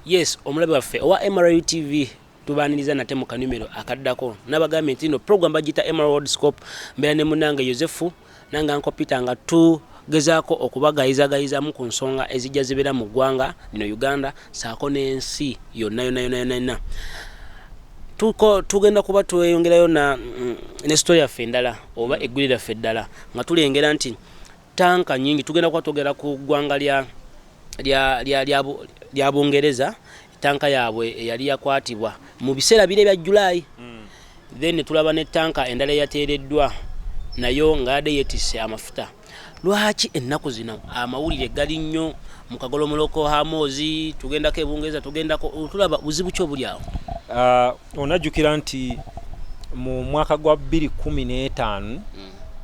yes omulabe waffe owa mru tv tubaniriza nate mu kanumero akaddako nabagambye nti no program bagiyita mru world scope mbeera ne munange yosefu Nange Uncle Peter nga tu gezaako okubagayizagayizamu ku nsonga ezijja zibeera mu ggwanga lino Uganda saako n'ensi yonna yonna yonna yonna yonna tuko tugenda kuba tweyongerayo na mm, ne story yaffe endala oba eggwire lyaffe eddala nga tulengera nti tanka nyingi tugenda kuba twogera ku ggwanga lya lya lya lya lya bungereza Tanka yaabwe eyali yakwatibwa mu biseera bire bya July mm. then ne tulaba ne tanka endala eyateereddwa nayo nga yadde yetisse amafuta lwaki ennaku zino amawulire gali nnyo mu kagolomoloko hamoozi tugendako ebungereza tugendako tulaba buzibu ki obuli awo uh, onajjukira nti mu mwaka gwa 215 mm.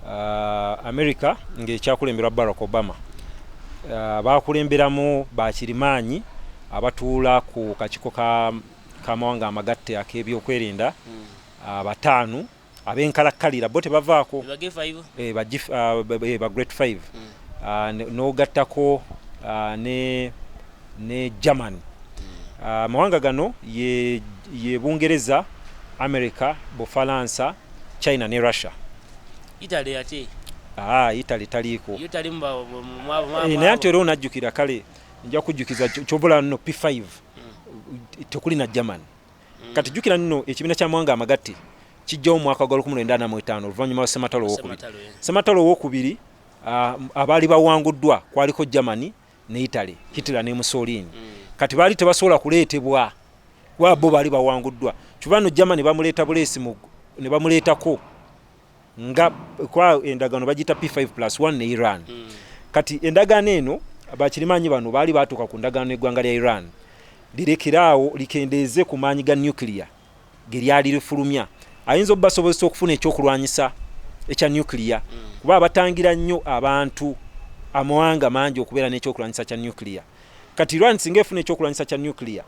uh, america ng'ekyakulemberwa barack obama uh, bakulemberamu bakirimaanyi Abatuula ku kakiiko k'amawanga amagatte ak'ebyokwerinda ah, bataano ab'enkalakkalira bo tebavaako eh, ba ah, eh, Great Five mm. ah, n'ogattako ne ne German ah, amawanga uh, gano ye, ye Bungereza America Bufalansa China ne Russia Italy ate ah Italy taliiko naye ate era onajjukira kale nja kujjukiza kyobula no p5 tekuli na german mm. kati jukira nno ekibiina kya mawanga amagatte kijjawo omwaka gwa 1945 oluvannyuma lwa sematalo owokubiri sematalo owokubiri ah, abaali bawanguddwa kwaliko germany ne italy hitler ne musolini mm. kati baali tebasobola kuleetebwa kuba bo baali bawanguddwa kyuba no germany bamuleeta buleesi ne bamuleetako nga kwa endagano bagita P5 plus 1 ne Iran mm. kati endagano eno bakirimanyi bano baali batuuka ku ndagaano eggwanga lya Iran lirekeraawo likendeeze ku maanyi ga nuclear ge lyali lifulumya ayinza obubasobozesa okufuna ekyokulwanyisa ekya nuclear mm. kuba abatangira nnyo abantu amawanga mangi okubeera n'ekyokulwanyisa kya nuclear Kati Iran singa efuna ekyokulwanyisa kya nuclear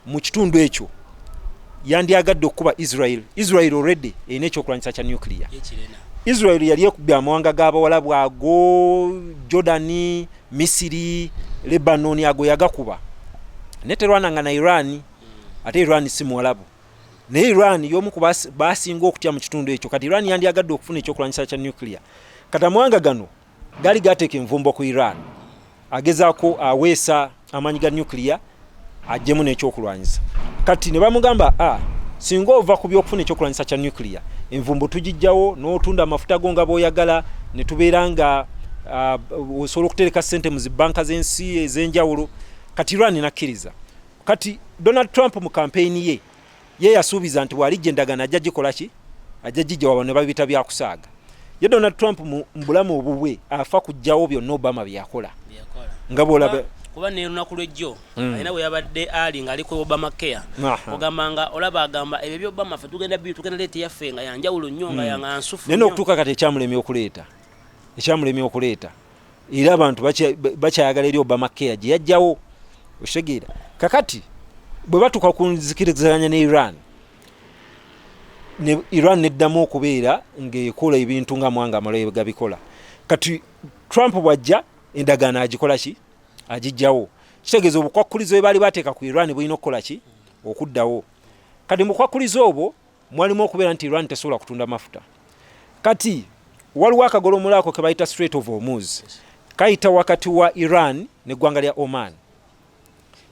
mu kitundu ekyo yandyagadde okukuba Israel. Israel already erina ekyokulwanyisa kya nuclear. Israel yali ekubye amawanga g'abawalabu ago, Jordan, Misiri, Lebanon ago yagakuba naye terwana nga na Iran. Hmm. Ate Iran si muwalabu naye Iran y'omu ku basinga okutya mu kitundu ekyo. Kati Iran yandyagadde okufuna ekyokulwanyisa kya nuclear. Kati amawanga gano Gali gateeka envumbo ku Iran agezaako aweesa amaanyi ga nuclear ajjemu n'ekyokulwanyisa kati ne bamugamba a ah, singa ova ku byokufuna ekyokulwanyisa kya nuclear envumbo tugijjawo n'otunda amafuta go nga bw'oyagala ne tubeera nga ah, osobola okutereka ssente mu zibanka z'ensi ez'enjawulo kati Iran nakkiriza kati Donald Trump mu kampeyini ye ye yasuubiza nti bw'alijja endagaano ajja gikola ki ajja gijja waba ne babiyita bya kusaaga ye donald trump mu bulamu obubwe afa kujjawo byonna obama bye yakola nga bw'olaba kuba nelunaku lwejjo hmm. alina weyabadde ali nga ali ku obama care ogamba nga olaba agamba ebyo byo obama fe tugenda bi tugenda leeta yaffe nga yanjawulo nnyo nga hmm. yanga nsufu naye nokutuuka kati ekyamulemye okuleeta ekyamulemye okuleeta era abantu bakyayagala eri obama care gye yajjawo okitegeera kakati bwe batuuka ku nzikiriziganya ne iran ne iran neddamu okubeera ngaekola ebintu nga mwanga amalayo gabikola kati trump bwajja endagaano agikola ki agijjawo kitegeeza obukwakkulizo bwe baali bateeka ku iran bulina okukola ki okuddawo kati mukwakkulizo obwo mwalimu okubeera nti Iran tesobola kutunda mafuta. Kati waliwo akagolomola ako ke bayita Strait of Hormuz kayita wakati wa Iran n'eggwanga lya Oman.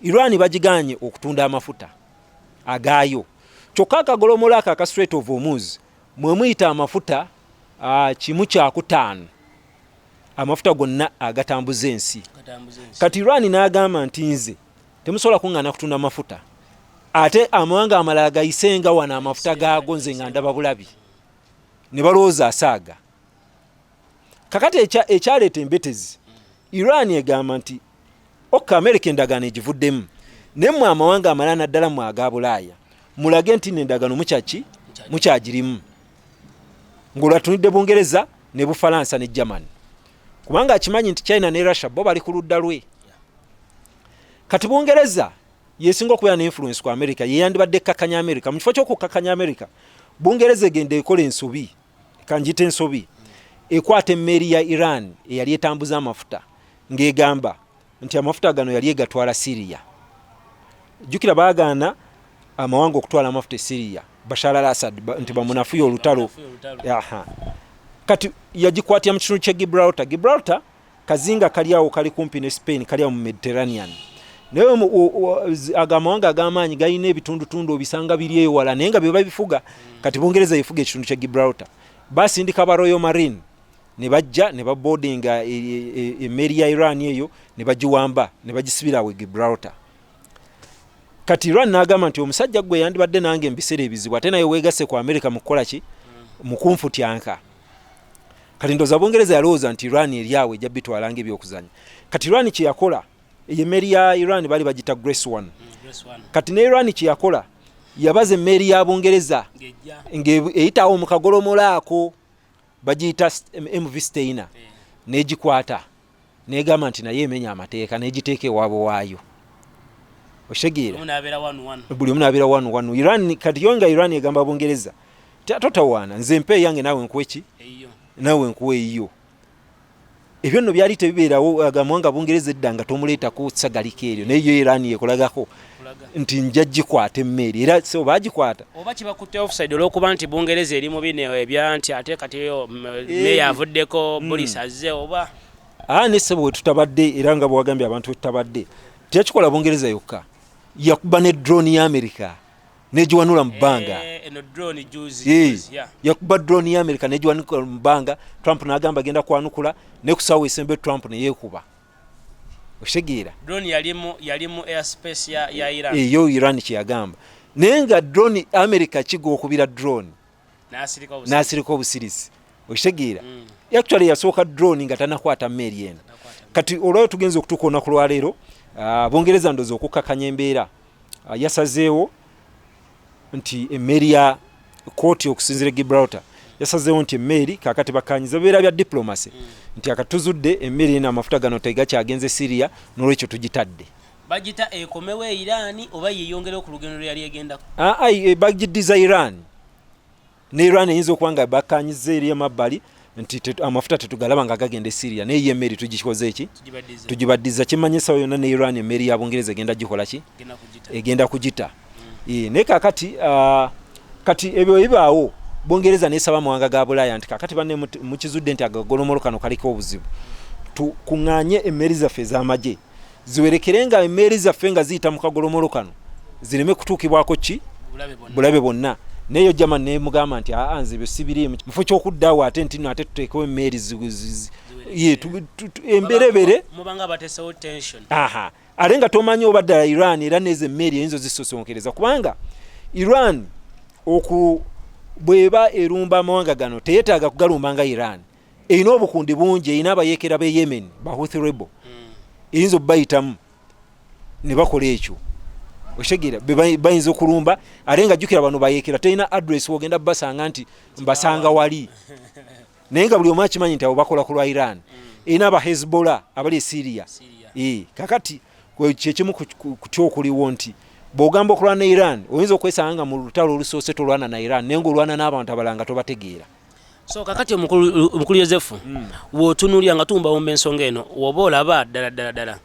Iran bagiganye okutunda amafuta agaayo, kyokka akagolomola ako aka Strait of Hormuz mwe muyita amafuta ah, kimu kyakutaano amafuta gonna agatambuza ensi. Kati Iran n'agamba nti nze temusobola kuŋŋaana kutunda mafuta ate amawanga amalala gayise nga wano amafuta gaago nze nga ndaba bulabi ne balowooza asaaga kakati ekyaleeta embetezi iran egamba nti ok amerika endagaano egivuddemu naye mwe amawanga amalala naddala mwe aga bulaaya mulage nti nendagaano mukyaki mukyagirimu ng'olwatunidde bungereza ne bufalansa ne germany kubanga akimanyi nti china ne russia bo bali ku ludda lwe kati bungereza yesinga okubeera ne influence ku america yeyandibadde ekkakanya america mu kifo ky'okukkakanya america bungereza egenda ekola ensobi kanjita ensobi ekwata emmeeri ya iran eyali etambuza amafuta ng'egamba nti amafuta gano yali egatwala siriya jjukira baagaana amawanga okutwala amafuta esiriya bashar al asad nti bamunafuya olutalo kati yagikwatira mu kitundu kye gibraltar gibraltar kazinga kali awo kali kumpi ne spain kali awo mu mediterranean naye ago amawanga ag'amaanyi galina ebitundutundu obisanga biri ewala naye nga bye babifuga kati bungereza yefuga ekitundu kye gibraltar basindika ba royal marine ne bajja ne baboodinga e, e, e, emmeeri ya iran eyo ne bagiwamba ne bagisibira awo gibraltar kati iran n'agamba nti omusajja gwe yandibadde nange embiseera ebizibu ate naye weegasse ku amerika mu kukola ki mu kunfutyanka kati ndooza bungereza yalowooza nti iran eri awo ejja bitwala nga ebyokuzanya kati iran kye yakola eyo emmeeri ya iran bali bagita grace one mm, kati ne iran kye yakola yabaza emmeeri ya bungereza ng'eyitawo mu kagolomolo ako bagiyita mv steina negikwata negamba nti naye emenya amateeka negiteeka ewaabwe waayo okitegeera buli omu nabeera wanu wanu iran kati yo nga iran egamba bungereza totawaana nze mpa eyange naawe nkuweki naawe nkuwa eyiyo ebyo nno byali tebibeerawo agamwa nga bungereza edda nga tomuleetako sagalika eryo naye yo iran yekolagako nti nja gikwata emmeeri era so bagikwata oba kibakutte offside olwokuba nti bungereza eri mu bino ebya nti ate kati meya eh. avuddeko hmm. bulisi azze oba aa ah, ne sebo wetutabadde era nga bwewagambye abantu wetutabadde teyakikola bungereza yokka yakuba ne drone ya amerika negiwanula mu bbanga eh, eno drone juzi eh, yeah. yakuba drone ya america negiwanukula mu bbanga trump nagamba agenda kwanukula nekusawo esembe trump neyekuba okitegeera drone yalimu yalimu airspace ya, ya iran eyo eh, iran kyeyagamba naye nga drone america kiga okubira drone n'asirika obusirisi okitegeera mm. actually yasooka drone nga tanakwata meeri eno kati olwayo tugenza okutuuka olunaku lwaleero ah, bungereza ndozi okukkakanya embeera ah, yasazeewo nti emmeeri ya kooti okusinzira e gibraltar yasazeewo nti emmeeri kakati bakanyiza bibeera bya diplomacy mm. nti akatuzudde emmeeri eno amafuta gano tegakyagenze syria nolwekyo tugitadde bagita ekomewo e Iran oba yeyongerewo ku lugendo lweyali egendako aa ah, eh, bagidiza Iran ne Iran eyinza okuba nga bakanyiza eri emabbali nti amafuta tetugalaba nga gagenda e Syria naye ye emmeri tugikoze eki tugibaddiza kimanyi esawa yonna ne Iran emmeri ya Bungereza egenda gikola ki egenda kugita mm. eh, naye kakati ah, kati ebyo bibaawo Bungereza nesaba amawanga ga Bulaaya nti kakati banne mukizudde nti agagolomolo kano kaliko obuzibu tukunganye emmeri zaffe ez'amagye ziwerekere nga emmeeri zaffe nga ziyita mu kagolomolo kano zireme kutuukibwako ki bulabe bonna naye yo jama nemugamba nti aa nze byosibirimu mufo kyokuddawo ate ntino ate tuteekewo emmeeri emberebere aha ate nga tomanyi oba ddala iran era nezo emmeeri eyinza ozisosonkereza kubanga iran oku bweba erumba amawanga gano teyetaaga kugalumba nga iran erina obukundi bungi erina abayekera be yemen bahuth rebo hmm. eyinza obubayitamu ne bakola ekyo okitegera bayinza okulumba ate nga jjukira bano bayekera terina adress wogenda basanga nti mbasanga wali naye nga buli omu akimanyi nti abo bakola ku lwa iran hmm. erina aba hezbollah abali esiria eh, kakati kyekimu kutya okuliwo nti bwogamba okulwana ne iran oyinza okwesanga nga mu lutalo olusoose tolwana na iran naye nga olwana n'abantu abalanga tobategeera so kakati omukulu yosefu mm. wotunulira nga tumbawomba ensonga eno woba olaba ddala ddala ddala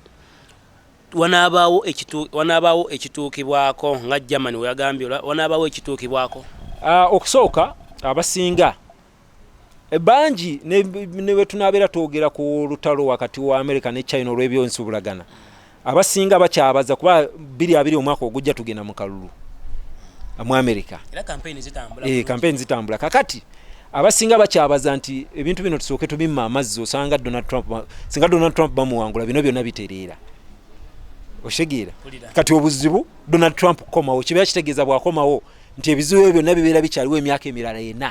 wanabaawo ekituukibwako nga germany weyagambye wanabaawo ekituukibwako ah, okusooka abasinga e, bangi newetunabeera twogera ku lutalo wakati wa america ne china olwebyonsubulagana abasinga bakyabaza kuba biri abiri omwaka ogujja tugenda mu kalulu mu amerika kampeyini zitambula kakati abasinga bakyabaza nti ebintu bino tusooke tubimma amazzi osanga donald trump singa donald trump bamuwangula bino byonna bitereera oshegera kati obuzibu donald trump kukomawo kibeera kitegeeza bwakomawo nti ebizibu ebyo byonna bibeera bikyaliwo emyaka emirala ena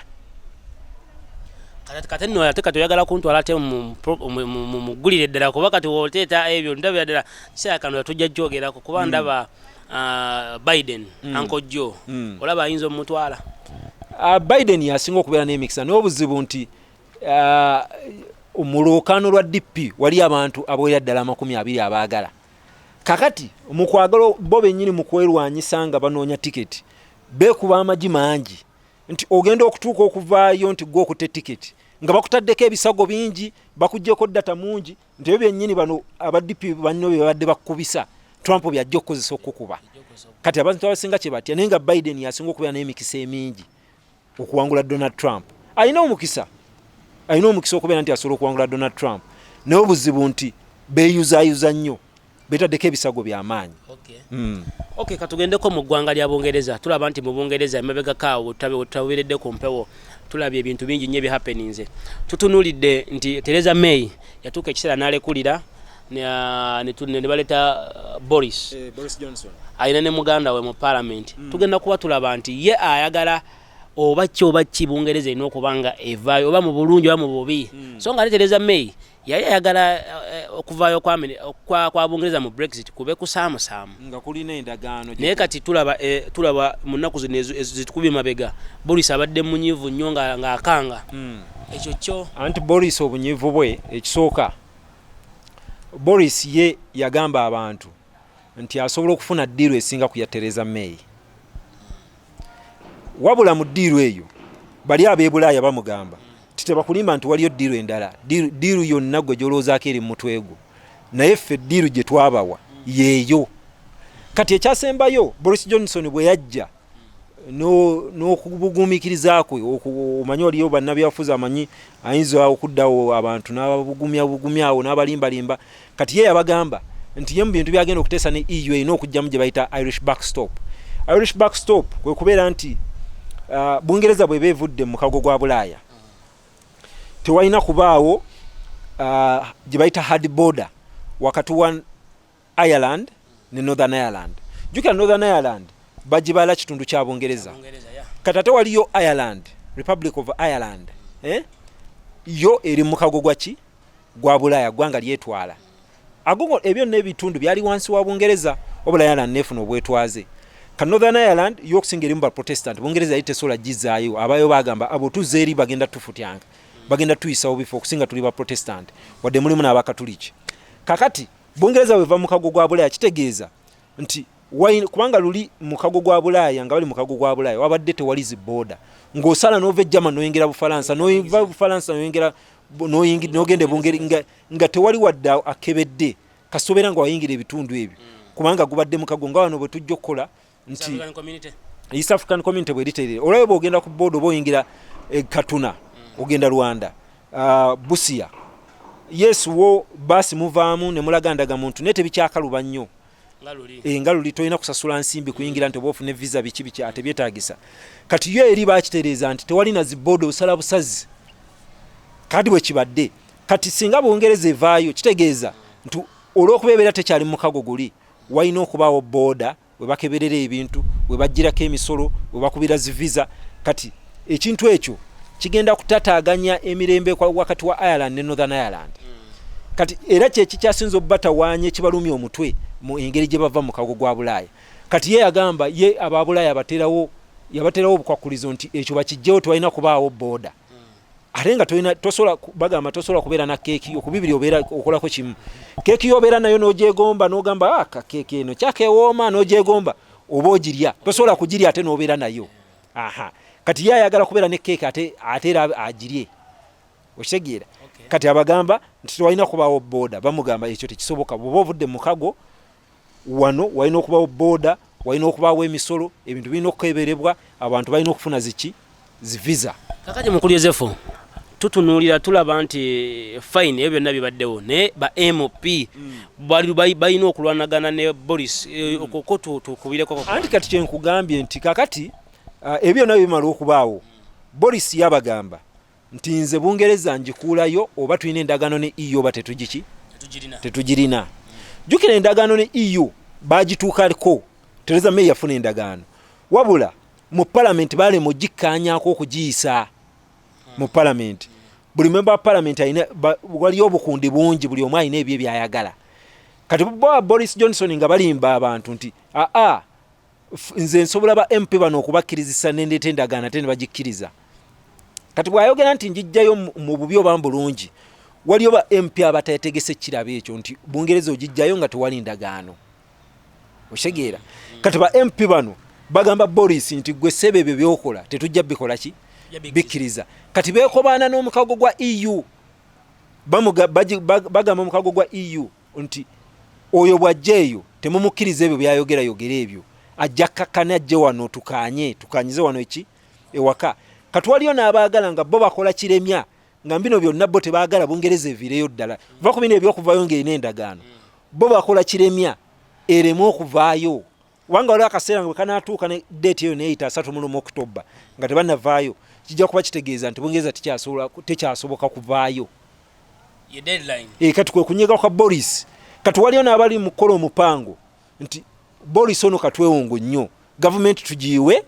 kati nno ate kati oyagala kuntwala ate muggulire ddala kuba kati woteeta ebyo ndabira ddala kiseera kano yatujja kyogerako kuba mm. ndaba ah, biden mm. ankojjo mm. olaba ayinza omutwala ah, biden yasinga okubeera n'emikisa naye obuzibu nti ah, mu lwokaano lwa dp wali abantu aboera ddala amakumi abiri abaagala kakati mukwagala bo benyini mukwelwanyisa nga banoonya tiketi bekuba amagi mangi nti ogenda okutuuka okuvaayo nti gwe okute tiketi nga bakutaddeko ebisago bingi bakujjeko data mungi nti ebyo byenyini bano abadipi banno bebabadde bakukubisa trump byajja okukozesa okukukuba kati abantu abasinga kyebatya naye nga biden yasinga okubeera naye emikisa emingi okuwangula donald trump alina omukisa alina omukisa okubeera nti asobola okuwangula donald trump naye obuzibu nti beyuzayuza nnyo betaddeko ebisago byamaanyi okay. mm. okay, katugendeko mu ggwanga lya bungereza tulaba nti mu bungereza emabegakaawo taberedde ku mpewo tulabye ebintu bingi nnyo ebihappeninze tutunulidde nti tereza may yatuuka ekiseera nalekulira nebaleta uh, boris eh, alina ne muganda we mu palamenti mm. tugenda kuba tulaba nti ye ayagala oba ki oba ki bungereza erina okuba nga evaayo oba mu bulungi oba mu bubi mm. so nga atetereza may yali ayagala eh, okuvaayo kwa bungereza mu brexit kube kusaamusaamu naye kati tulaba eh, mu nnaku zino zitukubye mabega boris abadde munyivu nnyo ng'akanga hmm. ekyo kyo anti boris obunyivu bwe ekisooka Boris ye yagamba abantu nti asobola okufuna ddiiru esinga ku ya Theresa May. Wabula mu ddiiru eyo bali ab'ebulaaya bamugamba nti tebakulimba nti waliyo ddiiru endala, ddiiru yonna gwe gy'olowoozaako eri mu mutwe gwo, naye ffe ddiiru gye twabawa yeeyo. Kati ekyasembayo Boris Johnson bwe yajja n'okubuguumikiriza kwe omanyi oliyo bannabyafuzi amanyi ayinza okuddawo abantu n'ababugumya bugumya awo n'abalimbalimba kati ye yabagamba nti ye mu bintu byagenda okuteesa ne eu erina okugyamu gye bayita irish backstop irish backstop kwe kubeera nti uh, bungereza bweba evudde mu mukago gwa bulaaya tewalina kubaawo uh, gye bayita hard border wakati wa Ireland ne Northern Ireland. Jukira Northern Ireland bajibala kitundu kya Bungereza. Kati ate waliyo Ireland, Republic of Ireland. Eh? Yo eri mukago gwa ki? Gwa Bulaaya gwanga lyetwala. Agogo ebyo ne bitundu byali wansi wa Bungereza obula Ireland nefuna obwetwaze. Ka Northern Ireland yo okusinga eri mu ba Protestant. Bungereza yite sola jizayo abayo bagamba abo tuzeri bagenda tufutyanga. Bagenda tuyisa obifo okusinga tuli ba Protestant. Wade mulimu na abakatuliki. Kakati Bungereza bweva mu kago gwa Bulaaya kitegeeza nti wine kubanga luli mu kago gwa Bulaaya nga bali mu kago gwa Bulaaya wabadde tewali zi booda ng'osala n'ova e German n'oyingira Bufalansa n'ova Bufalansa n'oyingira n'ogenda ebungeri nga tewali wadde akebedde kasita obeera nga wayingira ebitundu ebyo kubanga gubadde mukago nga wano bwe tujja okukola nti east african community bweriterere olaba bwogenda ku boda oba oyingira e katuna mm. ogenda rwanda uh, busia yes wo basi muvaamu nemulaga ndaga muntu naye tebikyakaluba nnyo nga luli eh, tolina kusasula nsimbi kuyingira nti oba ofune visa biki biki ate byetagisa kati yo eri bakitereeza nti tewali na ziboda osala busazi kadi bwekibadde kati singa bungereza evaayo kitegeeza nti olwokuba ebeera tekyali mukago guli Walina okubaawo booda we bakeberera ebintu, we baggyirako emisolo, we bakubira zi visa. Kati ekintu ekyo kigenda kutataaganya emirembe wakati wa Ireland ne Northern Ireland. Kati era kye kikyasinza obubatawaanya ekibalumya omutwe mu engeri gye bava mu kago gwa Bulaaya. Kati ye yagamba ye aba Bulaaya abaterawo yabaterawo obukwakkulizo nti ekyo bakiggyewo tewalina kubaawo booda. ate nga tolina tosobola bagamba tosobola kubeera na keeki okubibiri obeera okolako kimu keeki yobeera nayo n'ogyegomba n'ogamba ah, ka keeki eno kyakewooma n'ogyegomba oba ogirya tosobola kugirya ate n'obeera nayo aha kati ye ayagala kubeera ne keeki ate ate era agirye okitegeera kati abagamba nti tewalina kubaawo booda bamugamba ekyo tekisoboka bwoba ovudde mu mukago wano walina okubawo boda walina okubawo emisolo ebintu birina okukeberebwa abantu balina okufuna ziki zivisa kakati mukulu yosefu tutunuulira tulaba nti eh, fine ebyo byonna bibaddewo naye ba mp mm. balina okulwanagana ne boris eh, mm. okoko tukubireko anti kati kyenkugambye nti kakati ah, ebyo byonna bimala okubaawo boris yabagamba nti nze bungereza ngikuulayo oba tulina endagaano ne eu oba tetugiki tetugirina jjukira endagaano ne eu bagituukako tereza may yafuna endagaano wabula mu palamenti balema ogikkaanyako okugiyisa mu palamenti buli memba wa palamenti alina waliyo obukundi bungi buli omu alina ebyo ebyayagala kati boris johnson nga balimba abantu nti aa nze nsobola ba mp bano okubakkirizisa nendeeta endagaano ate ne bagikkiriza kati bwayogera nti njijjayo mu bubi oba mbulungi waliyo ba mp abatategese kiraba ekyo nti bungereza ogijjayo nga tewali ndagaano okitegeera kati ba mp bano bagamba boris nti gwe sebe ebyo byokola tetujja bikola ki bikkiriza kati bekobaana n'omukago gwa eu bagamba omukago gwa eu nti oyo bw'ajja eyo temumukkiriza ebyo by'ayogera yogera ebyo ajja kakkane ajje wano tukaanye tukanyize wano eki ewaka kati waliyo n'abaagala nga bo bakola kiremya nga bino byonna bo tebaagala bungereza eviireyo ddala va ku bino ebyokuvayo ng'erina endagaano bo bakola kiremya ereme okuvaayo kubanga waliwo akaseera nga bwekanaatuuka ne deeti eyo neyita asatu mu lumu okutobba nga tebanavaayo kijja kuba kitegeeza nti bungereza tekyasoboka kuvaayo eh, kati kwe kunyiga kwa boris kati waliyo n'abali mu kukola omupango nti boris ono katwewongo nnyo gavumenti tugiiwe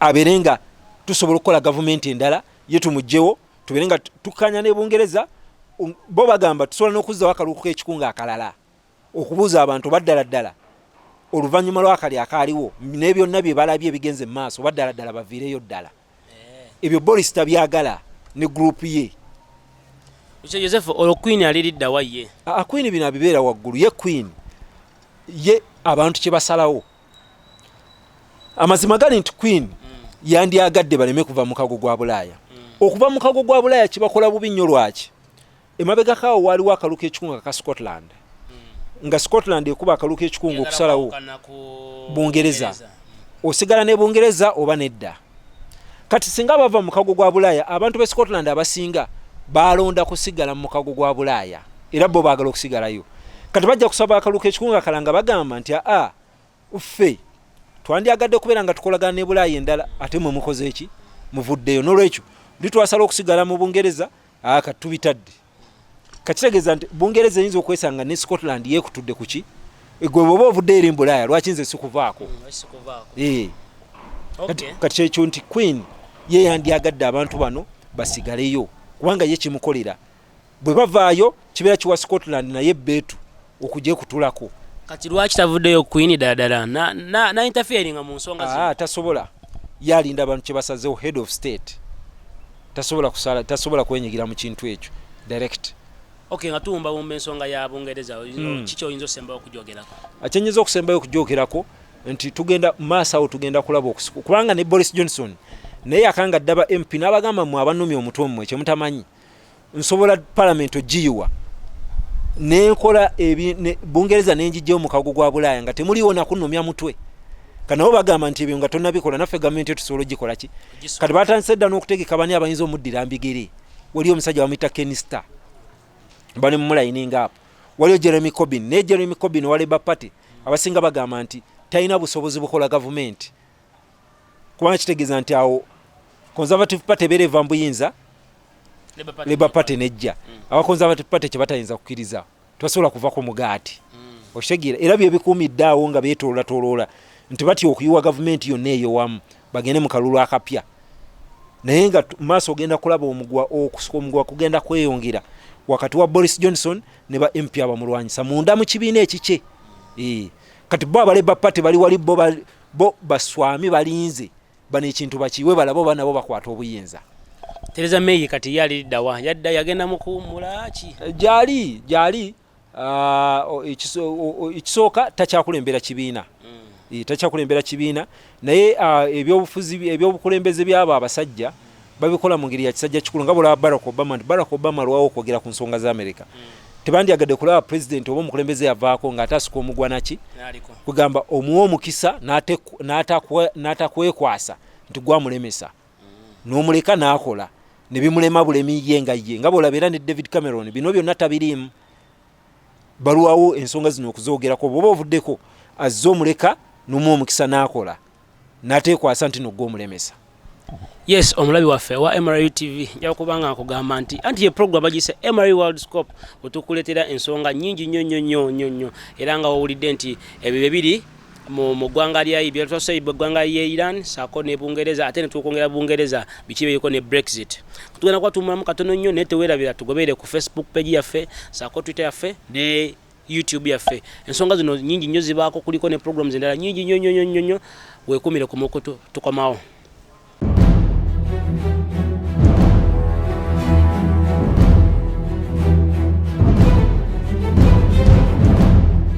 abeere nga tusobola okukola gavumenti endala ye tumugyewo tubeere nga tukanya ne bungereza um, bo bagamba tusobola n'okuzzawo akalulu k'ekikunga akalala okubuuza abantu oba ddala ddala oluvannyuma lw'akali akaaliwo ne byonna bye balabye ebigenze mu maaso oba ddala ddala baviireyo ddala eh. ebyo boris tabyagala ne gurupu ye ekyo yosefu olwo kwini aliriddawa ye akwini bino abibeera waggulu ye kwini ye abantu kye basalawo amazima gali nti kwini mm. yandyagadde baleme kuva mukago gwa bulaaya mm. okuva mukago gwa bulaaya kibakola bubi nnyo lwaki emabegako awo waaliwo akalulu k'ekikungu aka scotland hmm. nga scotland ekuba akalulu k'ekikungu okusalawo bungereza osigala ne bungereza oba nedda kati singa bava mukago gwa bulaaya abantu be scotland abasinga balonda kusigala mu mukago gwa bulaaya era bo baagala okusigalayo kati bajja kusaba akaluka ekikungu akala nga bagamba nti aa ffe twandyagadde kubeera nga tukolagana ne bulaaya endala ate mwe mukoze eki muvuddeyo nolwekyo ndi twasala okusigala mu bungereza Ah, kati tubitadde kakitegeeza nti bungereza eyinza okwesanga ne scotland yekutudde kuki eh, gwe bwoba ovudde eri mbulaaya lwaki nze sikuvaako mm, eh. kati kyekyo nti queen ye yandyagadde abantu bano basigaleyo kubanga ye kimukolera bwe bavaayo kibeera kiwa scotland naye beetu okugye kutulako kati lwaki tavuddeyo queen daladala na, na, na interferinga mu nsonga ah, tasobola yalinda abantu kyebasazewo head of state tasobola kusala tasobola kwenyigira mu kintu ekyo direct okay nga tuwumba wumba ensonga ya bungereza mm. kiki oyinza osembayo okujogerako akyenyinza okusembayo okujogerako nti tugenda maaso awo tugenda kulaba okusiku kubanga ne boris johnson naye akanga ddaba mp n'abagamba mwe abanumya omutwe mmwe kyemutamanyi nsobola palamenti ogiyiwa nenkola bungereza nenjijja omukago gwa bulaaya nga temuliwo nakunomya mutwe kanabo bagamba nti ebyo nga tonabikola naffe gavumenti etusobola ogikola ki kati batandise dda n'okutegeka bani abayinza omuddira mbigere waliyo omusajja bamuyita kenista bali mumulayininga apo waliyo jeremy cobin naye jeremy cobin waleba party abasinga bagamba nti talina busobozi bukola gavumenti kubanga kitegeeza nti awo conservative party ebeera eva mbuyinza labour party nejja mm. aba conservative party kyebatayinza kukiriza tebasobola kuva ku mugaati mm. okitegeera era byebikuumidde awo nga betololatoloola nti batya okuyiwa gavumenti yonna eyowamu bagende mu kalulu akapya naye nga maaso ogenda kulaba omugwa okusuka omugwa kugenda kweyongera wakati wa boris johnson ne ba mp abamulwanyisa munda mu kibiina ekikye kati bo abaleba party bali wali bo bo baswami balinze bano ekintu bakiwe balabe oba nabo bakwata obuyinza tereza meyi kati ye aliddawa yadda yagenda mukuwumulaki eh, gyali gyali ah, ekisooka takyakulembera kibiina hmm. eh, takyakulembera kibiina naye ah, ebyobufuzi ebyobukulembeze byabo abasajja babikola mu ngeri ya kisajja kikulu nga bwolaba barack obama nti barack obama alwawo okwogera ku nsonga za amerika mm. tebandyagadde kulaba pulezidenti oba omukulembeze yavaako ng'ate asuka omugwanaki kugamba omuwa omukisa n'atakwekwasa nti gwamulemesa mm. n'omuleka n'akola ne bimulema bulemi ye nga ye nga bwolaba era ne david cameron bino byonna tabiriimu balwawo ensonga zino okuzoogerako bwoba ovuddeko azze omuleka nomu omukisa n'akola natekwasa ntino gwe omulemesa yes omulabi waffe wa mru tv njaga kuba nga nkugamba nti anti ye program bagiyise mru world scope wetukuleetera ensonga nyingi nnyo nnyo nnyo nnyo nnyo era nga wawulidde nti ebyo bye biri mu ggwanga lya byetwasa eggwanga lya iran saako ne bungereza ate netwokwongera bungereza biki biriko ne brexit tugenda kuba tumulamu katono nnyo naye tewerabira tugobeere ku facebook page yaffe saako twitter yaffe ne YouTube yaffe ensonga zino nyingi nnyo zibaako kuliko ne programs endala nyingi nnyo nnyo nnyo nnyo weekuumire ku mukutu tukomawo